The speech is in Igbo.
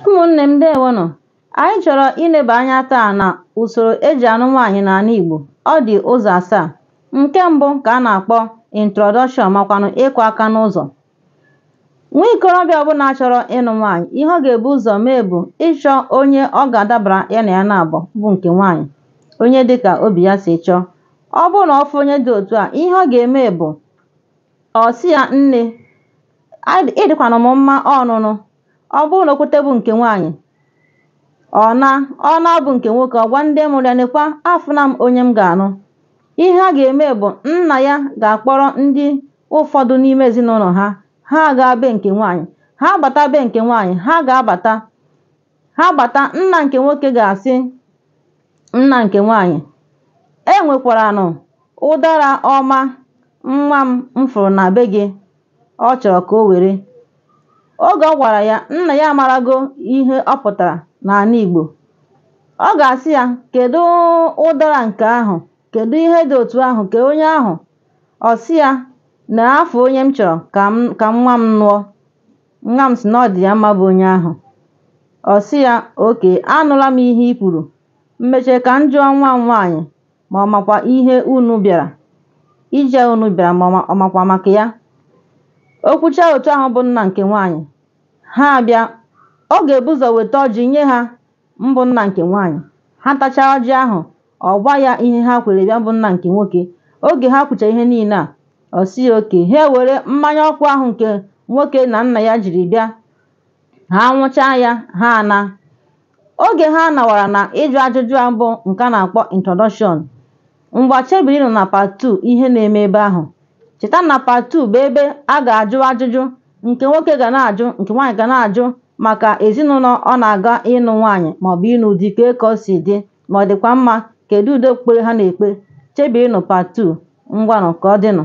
ụmụnne m ndeewonụ anyị chọrọ ileba anya taa na usoro eji anụ nwaanyị n'ala Igbo ọ dị ụzọ asaa nke mbụ ka a na-akpọ introduction makwanụ ịkụ aka n'ụzọ nwa ikorobịa ọbụla chọrọ ịnụ nwaanyị ihe ọ ga-ebu ụzọ mee bụ ịchọ onye ọ ga-adabara ya na ya naabọ bụ nke nwaanyị onye dịka obi ya si chọọ ọ bụrụ na ọ fụ onye dị otu a ihe ọ ga-eme bụ Ọ sị ya, Nne, ị dịkwanụ m mma ọnụnụ. Ọ bụrụ na o kwete bụ nke nwaanyị, ọ naa, ọ naa bụ nke nwoke, ọ gwa ndị mụrụ ya, nekwa, afụna m onye m ga-anụ. Ihe a ga-eme bụ nna ya ga-akpọrọ ndị ụfọdụ n'ime ezinụlọ ha, ha agaa be nke nwaanyị. Ha bata be nke nwaanyị, ha ga-abata ha bata nna nke nwoke ga-asị nna nke nwaanyị e nwekwaranụ ụdara ọma nwa m fụrụ na be gị ọ chọrọ ka o were oge ọ gwara ya nna ya amarago ihe ọ pụtara n'ala Igbo ọ ga-asị ya kedu ụdara nke ahụ kedu ihe dị otu ahụ kee onye ahụ ọ sị ya na afụọ onye m chọrọ ka nwa m nụọ Nwa m sị na ọ dị ya mma bụ onye ahụ. Ọ sị ya, oke, anụla m ihe i kwuru. Mmeche ka m jụọ nwa m nwaanyị ma ọ makwa ihe unu bịara. Ije unu bịara ma ọ makwa maka ya. O kwuchaa otu ahụ bụ nna nke nwaanyị. Ha abịa. Ọ ga-ebu ụzọ weta ọjị nye ha Mbụ nna nke nwaanyị. Ha tachaa ọjị ahụ, ọ gwa ya ihe ha kwere bịa bụ nna nke nwoke. Oge ha kwuchaa ihe niile a, ọ sị ya oke. Ha ewere mmanya ọkụ ahụ nke nwoke na nna ya jiri bịa. Ha nwụchaa ya, ha ana. Oge ha nawara na ịjụ ajụjụ a bụ nke a na-akpọ introduction, Ngwa chebirinụ na Part 2 ihe na-eme ebe ahụ. Cheta na Part 2 bụ ebe a ga-ajụ ajụjụ nke nwoke ga na-ajụ nke nwaanyị ga na-ajụ maka ezinụlọ ọ na-aga ịnụ nwaanyị maọbụ ịnụ di kee ka o si dị ma ọ dịkwa mma kedu ụdị okpukpere ha na-ekpe. Chebirinụ Part 2. Ngwanụ ka ọ dịnụ.